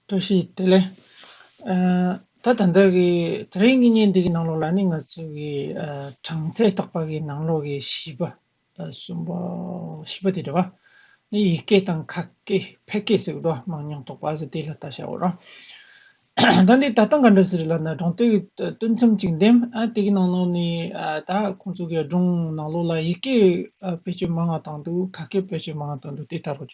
བཀྲ་ཤིས་བདེ་ལེགས། ད་ད་ལྟ་གི་དེ་རིང་གི་བརྙན་འདི་གི་ནང་ལོགས་ལ་ནི་ང་ཚོ་གི་གྲངས་ཚད་བརྟག་པ་གི་ནང་ལོགས་ཀྱི་བྱིས་པ་གསུམ་པོ་བྱིས་པ་དེ་རེད་བ། ནི་ཡིག་སྐད་དང་ཁ་སྐད་ཕལ་སྐད་ཟེར་གི་འདུག་བ་མང་ཉུང་དོགས་པ་ཟེར་དེ་ལ་ལྟ་ཞའོ་རང། ད་འདི་ད་ལྟ་ག་འདྲ་ཟེར་ལ་ན་སྒྲུང་དེ་གི་སྟོད་མཚམས་ཅིག་འདེམས་ཨ་དེ་གི་ནང་ལོགས་ནི་ད་ཁོང་ཚོ་གི་སྒྲུང་ནང་ལོགས་ལ་ཡིག་སྐད་བེད་སྤྱོད་མང་བ་དང་འདུག་ཁ་སྐད་བེད་སྤྱོད་མང་བ་དང་འདུག་དེ་ལྟར་རོ།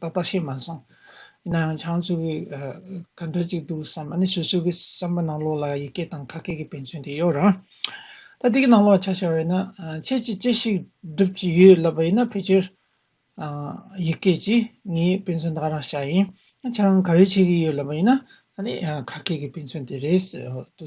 པ་པ་ཤེས་མ་སོང། ཡིན་ན་ཡང་ཆང་བཙོས་པའི་ག་འདྲ་ཅིག་འདུག་བསམ་ཨ་ནི་སོ་སོའི་གི་བསམ་པ་ནང་ལོགས་ལ་ཡི་གེ་དང་ཁ་སྐད་ཀྱི་དཔེ་མཚོན་དེ་ཡོད་རང། ད་དེ་གི་ནང་ལོགས་ལ་ཆ་བཞག་ཡོད་ན་ཁྱེད་ཀྱིས་ཅི་ཞིག་སྒྲུབ་ཀྱི་ཡོད་ལབ་པ་ཡིན་ན་ཕལ་ཆེར་ཡི་གེ་ཀྱིས་ངའི་དཔེ་མཚོན་དག་རང་བྱ་ཡིན། ཁྱེད་རང་ག་རེ་བྱེད་ཀྱི་ཡོད་ལབ་པ་ཡིན་ན་ཨ་ནི་ཁ་སྐད་ཀྱི་དཔེ་མཚོན་དེ་རེད་ཟེར་དུ།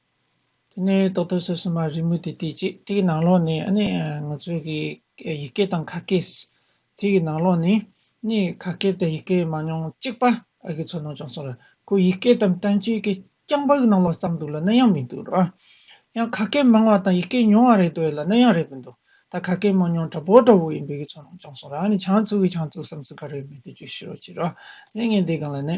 དེ་ནས་ཏོག་ཏོག་སོ་སོ་མ་རིལ་མོ་དེ་བལྟས་རྗེས་དེའི་ནང་ལོགས་ནས་ཨ་ནི་ང་ཚོའི་གི་ཡི་གེ་དང་ཁ་སྐད། དེ་གི་ནང་ལོགས་ནས་ཨ་ནི་ཁ་སྐད་དང་ཡི་གེ་མང་ཉུང་གཅིག་པ་ཨ་གི་ཚོར་སྣང་བྱུང་སོང་ལ་ཁོ་ཡི་གེ་དང་བསྟན་བཅོས་ཀྱི་རྐྱང་པ་གི་ནང་ལོགས་ཙམ་འདུག་ལ་ནི་ཡང་མི་འདུག་རོ། ཡང་ཁ་སྐད་མང་བ་དང་ཡི་གེ་ཉུང་བ་རེད་འདོད་ལ་ནི་ཡང་རེད་མི་འདུག་ད་ཁ་སྐད་མང་ཉུང་འདྲ་པོ་འདྲ་བོ་ཡིན་པའི་གི་ཚོར་སྣང་བྱུང་སོང་ལ་ཨ་ནི་ཆང་བཙུགས་གི་ཆང་བཙུགས་སམ་སུ་ག་རེ་མེད་དུ་བརྗོད་ཤི་རོ་བྱེད་རོ། ནི་ངས་འདི་གང་ལ་ནི།